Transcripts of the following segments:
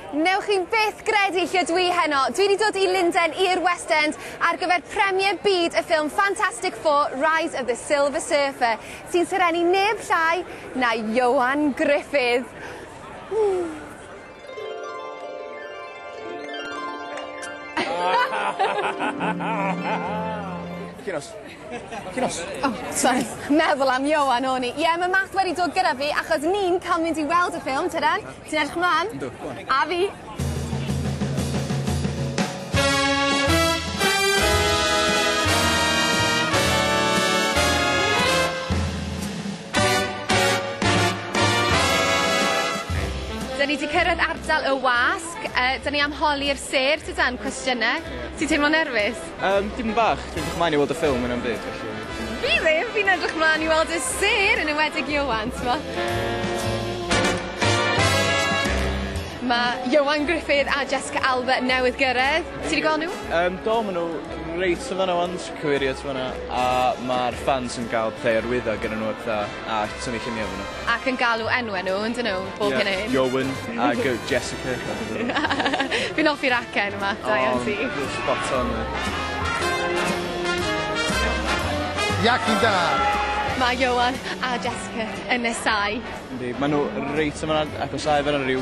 Newch chi byth gredu lle dwi heno. Dwi wedi dod i Lundain i'r West End ar gyfer premier byd y ffilm Fantastic Four Rise of the Silver Surfer, sy'n serennu neb llai na Ioan Gruffudd. Chi'n os? Ti'n off? O, sori. Meddwl am Ioan o'n i. Ie, mae Matt wedi dod gyda fi achos ni'n cael mynd i weld y ffilm, tydan? Ti'n edrych mlaen? Yndw, go on. A fi. Da ni wedi cyrraedd ardal y wasg, uh, da ni am holi'r sêr, tydan, cwestiynau. Ti'n teimlo nerfus? Yym, dipyn bach. Dwi'n edrych mlaen i weld y ffilm hwnna 'm byd felly. Rili? Fi'n edrych mlan i weld y sêr yn enwedig Ioan t'mo'. Ma' Ioan Gruffydd a Jessica Alba newydd gyrredd. Ti 'di gweld nhw? Yym do ma' nw reit yn fan 'na ŵan, cyfeirio at fan 'na a ma'r ffans yn ga'l play ar lwyddo gynnyn nw a petha. a tynnu lluniau ohonyn nhw. Ac yn galw enwau nhw, yn dyn nhw, bob hyn a hyn? Ie, Iowen a Jessica. Fi'n offi'r acen yma, da iawn ti. O, you're spot on there. Iacyn da! Mae Ioan a Jessica yn nesáu. Yndi, maen nhw reit yn fan'na, ac os ae fan'na ryw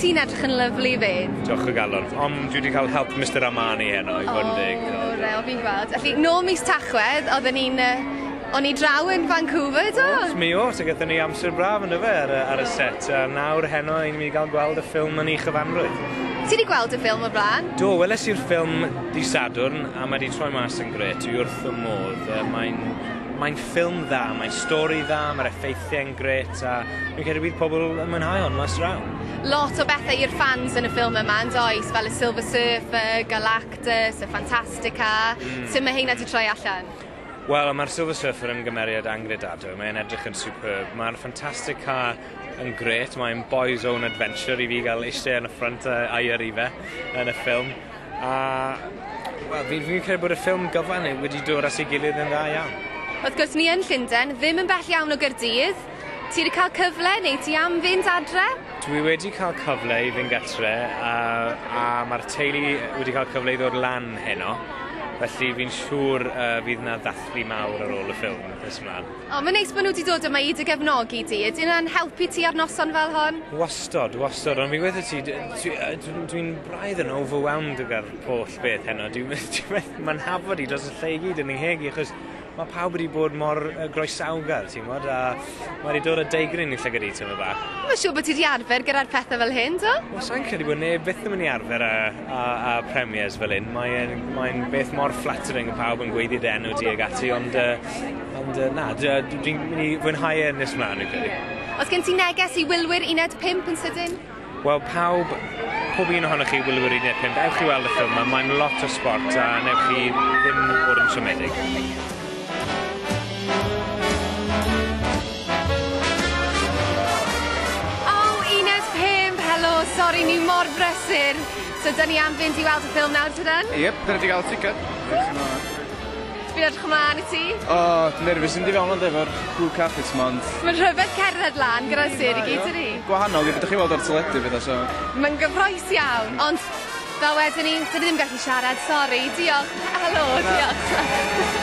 Ti'n edrych yn lyfli 'fyd. Diolch o galon. Ond dwi wedi cael help Mister Armani heno, i fod yn deg. O, real, fi'n gweld. Felly, nôl mis Tachwedd, oedden ni'n... O'n i draw yn Vancouver, do? Oes, mi oes, a gyda ni amser braf yn dyfe, ar y, ar y set. A nawr heno, i'n mynd i gael gweld y ffilm yn ei chyfanrwydd. Ti wedi gweld y ffilm o'r blaen? Do, weles i'r ffilm di Sadwrn, a mae wedi troi mas yn gret, dwi wrth fy modd. Mae'n, mae'n ffilm dda, mae'n stori dda, mae'r effeithiau'n gret. A fi'n credu bydd pobl yn mwynhau hon mas draw. Lot o bethau i'r ffans yn y ffilm yma yn does, fel y Silver Surfer, Galactus, y Fantastica. Mm. Sut mae heina di troi allan? Wel, mae'r Silver Surfer yn gymeriad angredadwy, mae'n edrych yn superb. Mae'r Fantastica yn gret, mae'n boys own adventure i fi gael eisiau yn y ffrant a'i yrru fe yn y ffilm. A wel fi fi'n credu bod y ffilm gyfan neu wedi dod at ei gilydd yn dda iawn. Wrth gwrs ni yn Llunden, ddim yn bell iawn o Gaerdydd. Ti wedi cael cyfle neu ti am fynd adre? Dwi wedi cael cyfle i fynd gatre a a ma'r teulu wedi cael cyfle i ddod lan heno felly fi'n siŵr yy fydd 'na ddathlu mawr ar ôl y ffilm nes mlan. O, mae'n neis bod nhw 'di dod yma i dy gefnogi di. Ydyn nhw'n helpu ti ar noson fel hon? Wastod, wastod, ond fi'n gweud wrth ti, dwi'n braidd yn overwhelmed gyda'r holl beth heno. Dwi methu fy nhafod i dros y lle i gyd yn fy ngheg i, achos mae pawb wedi bod mor groesawgar, ti'n gwybod, a mae wedi dod â deigryn i llygad i tyma bach. Mae'n siŵr bod ti wedi arfer gyda'r pethau fel hyn, do? Wel, sa'n credu bod neb byth yn mynd i arfer â a, a premiers fel un. Mae'n mae beth mor flattering y pawb yn gweithio dy enw ti ag ati, ond, uh, ond uh, na, dwi'n mynd i fwynhau e nes mlaen, dwi'n credu. Os gen ti neges i wylwyr uned 5 yn sydyn? Wel, pawb, pob un ohonoch chi wylwyr uned 5, ewch i weld y ffilm yma, mae'n lot o sport a newch chi ddim bod yn siomedig. sori, ni mor brysur. So, dyn ni am fynd i weld y ffilm nawr, tydan? Yep, dyn ni wedi cael ticket. Fi'n edrych ymlaen i ti. O, oh, dwi'n nerfus yn di fewn ond efo'r cool carpets ma, ond... Mae'n rhyfedd cerdded lan gyda sir i gyd, ni? Gwahanol, i beth ydych chi weld o'r teledu, fydda, so... Mae'n gyffroes iawn, ond Fel wedon ni, dyn ni ddim gallu siarad, sori. Diolch. Helo, diolch.